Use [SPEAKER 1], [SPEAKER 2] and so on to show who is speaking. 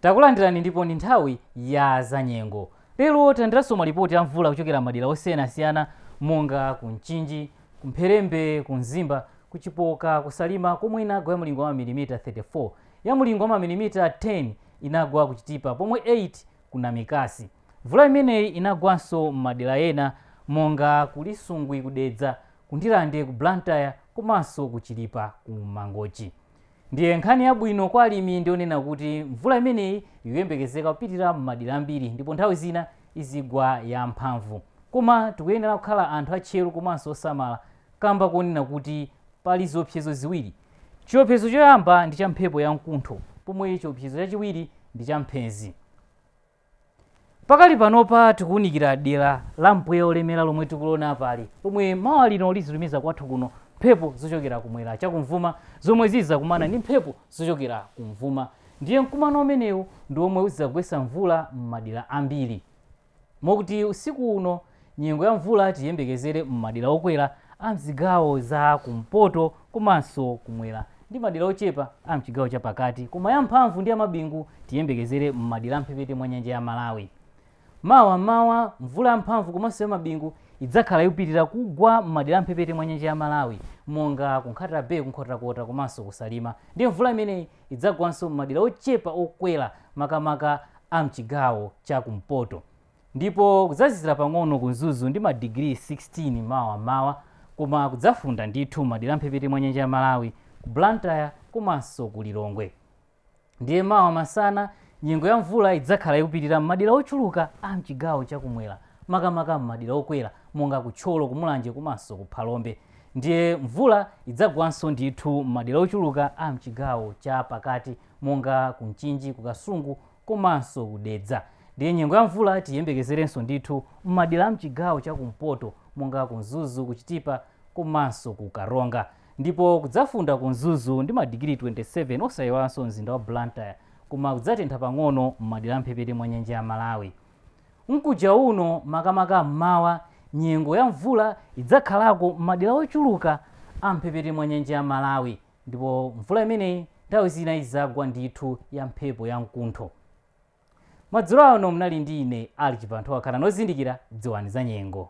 [SPEAKER 1] Takulandirani ndipo ndi nthawi ya zanyengo. Lero talandiranso malipoti a mvula kuchokera madera osiyanasiyana monga ku Mchinji, ku Mpherembe, ku Mzimba, ku Chipoka, ku Salima komwe inagwa ya mlingo wa mamilimita 34. Ya mlingo wa mamilimita 10 inagwa ku Chitipa pomwe 8 ku Namikasi. Mvula imeneyi inagwanso m'madera ena monga ku Lisungwi ku Dedza, ku Ndirande, ku Blantyre komanso ku Chilipa ku Mangochi. Ndiye nkhani yabwino kwa alimi ndi yonena kuti mvula imeneyi ikuyembekezeka kupitirira m'madera ambiri ndipo nthawi zina izigwa ya mphamvu. Koma tikuyenera kukhala anthu atcheru komanso osamala kamba konena kuti pali ziopsezo ziwiri. Chiopsezo choyamba ndi cha mphepo ya mkuntho pomwe chiopsezo chachiwiri ndi cha mphezi. Pakali panopa tikuunikira dera la mpweya wolemera lomwe tikuliona apali, pomwe mawa lino lizitumiza kwathu kuno mphepo zochokera kumwera chakumvuma zomwe zizidzakumana ndi mphepo zochokera kumvuma ndiye mkumano umenewu ndi womwe uzidzagwetsa mvula m'madera ambiri mokuti usiku uno Nyengo ya mvula tiyembekezere m'madera okwera a m'zigawo za kumpoto komanso kumwera ndi madera ochepa a m'chigawo cha pakati koma ya mphamvu ndi ya mabingu tiyembekezere m'madera a mphepete mwa nyanja ya Malawi. Mawa m'mawa mvula ya mphamvu komanso ya mabingu idzakhala ikupitirira kugwa m'madera a mphepete mwa nyanja ya Malawi monga ku Nkhata Bay, ku Nkhotakota komanso ku Salima ndiye mvula imeneyi idzagwanso m'madera ochepa okwera makamaka a m'chigawo cha kumpoto. Ndipo kudzazizira pang'ono ku Mzuzu ndi madigiri 16 mawa m'mawa koma kudzafunda ndithu m'madera a m'mphepete mwa nyanja ya Malawi, ku Blantyre komanso ku Lilongwe. Ndiye mawa masana, nyengo ya mvula idzakhala ikupitirira m'madera ochuluka a m'chigawo cha kumwera makamaka m'madera okwera monga ku Thyolo, ku Mulanje komanso ku Phalombe. Ndiye mvula idzagwanso ndithu m'madera ochuluka a m'chigawo cha pakati monga ku Mchinji, ku Kasungu komanso ku Dedza. Ndiye nyengo ya mvula tiyembekezerenso ndithu m'madera a m'chigawo cha kumpoto monga ku Mzuzu, ku Chitipa komanso ku Karonga. Ndipo kudzafunda ku Mzuzu ndi madigiri 27 osayiwalanso mzinda wa Blantyre koma kudzatentha pang'ono m'madera a m'mphepete mwa nyanja ya Malawi. Mkuja uno makamaka m'mawa nyengo ya mvula idzakhalako m'madera ochuluka a m'mphepete mwa nyanja ya Malawi. Ndipo mvula imeneyi nthawi zina idzagwa ndithu ya mphepo ya mkuntho. Madzulo ano mnali ndi ine Alick Chibanthowa khalani ozindikira dziwani za nyengo.